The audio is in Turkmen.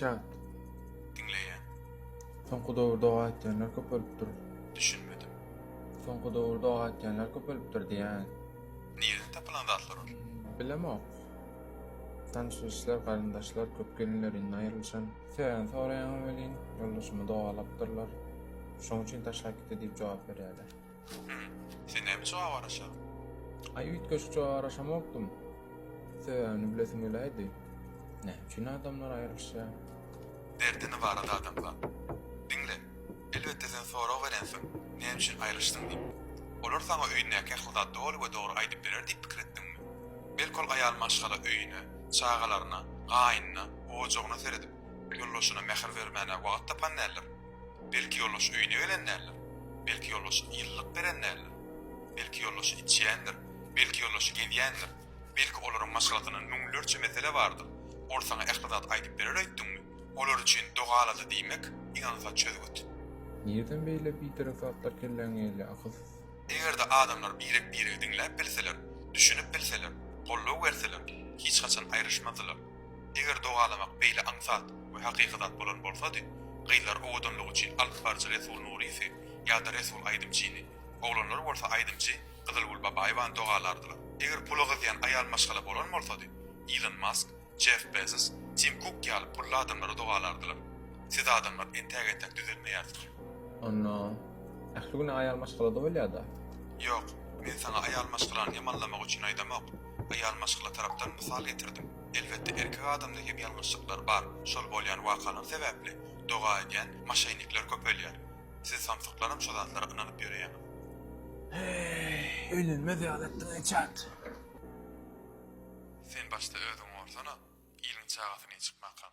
Çat. Diňleýän. Soňky döwürde doga etýänler köpelipdir. Düşünmedim. Soňky döwürde doga etýänler köpelipdir diýýän. Nirden tapylan zatlar ol? Bilemok. Tanşyşlar, garyndaşlar köp gelinlerinden aýrylyşan. Sebäbini soraýaňam welin, ýoldaşymy dogalapdyrlar. Şoň üçin taşlap gitdi diýip jogap berýärler. Hühüm. Sen näme jogap araşaň? Aý üýtgeşik jogap araşamokdym. Sebäbini bilesim geläýdi. Näme üçin adamlar aýrylyşýar? Derdini barada adamzat. Diňle. Elbetde sen sorag berensiň, näme üçin aýrylyşdyň diýip. Olar saňa öýündäki ähli zady doly we dogry aýdyp berer diýip pikir etdiňmi? Belki ol aýal maşgala öýüne, çagalaryna, gaýnyna, ojagyna seredip, ýoldaşyna mähir bermäne wagt tapan däldir? Belki ýolbaşy öýüne gelen däldir. Belki ýolbaşy ýyllyk beren däldir. Belki ýolbaşy içýändir. Belki ýolbaşy gezýändir. Belki olaryň maşgalasynda müňlerçe mesele bardyr. Ol saňa ähli zady aýdyp berer öýtdüňmi? Olar üçin dogalady diýmek ynansa çözgüt. Nirden beýle biderek zatlar kelläňe gelýär, akylsyz? Eger-de adamlar birek-biregi diňläp bilseler, düşünip bilseler, goldaw berseler, hiç haçan aýryşmazdylar. Eger dogalamak beýle aňsat we hakyky zat bolan bolsady, gyzlar owadanlygy üçin alypbaryjy Resul Nurisy ýa-da Resul Aýdymçyny, oglanlar bolsa aýdymçy Gyzylgül Babaýewany dogalardylar. Eger pula gyzýan aýal maşgala bolan bolsady, Ilon Mask, Jeff Bezos, Tim Kuk ýaly pully adamlary dogalardylar. Siz adamlar entäk-entäk düzelmeýärsiňiz. Onda, ähli güni aýal maşgalada bolýa-da? Ýok, men saňa aýal maşgalany ýamanlamak üçin aýdamok. Real maşgala tarapdan mysal getirdim. Elbetde erkek adamda hem ýalňyşlyklar bar, şol bolýan wakalar sebäpli doga edýän maşenikler köpelýär. Siz samsyklaram şo zatlara ynanyp ýöreýäňiz. Heý, öýlenmez ýaly etdiň ençänt. Sen başda özüňi gorsana, iliň çagasy neýçik makam.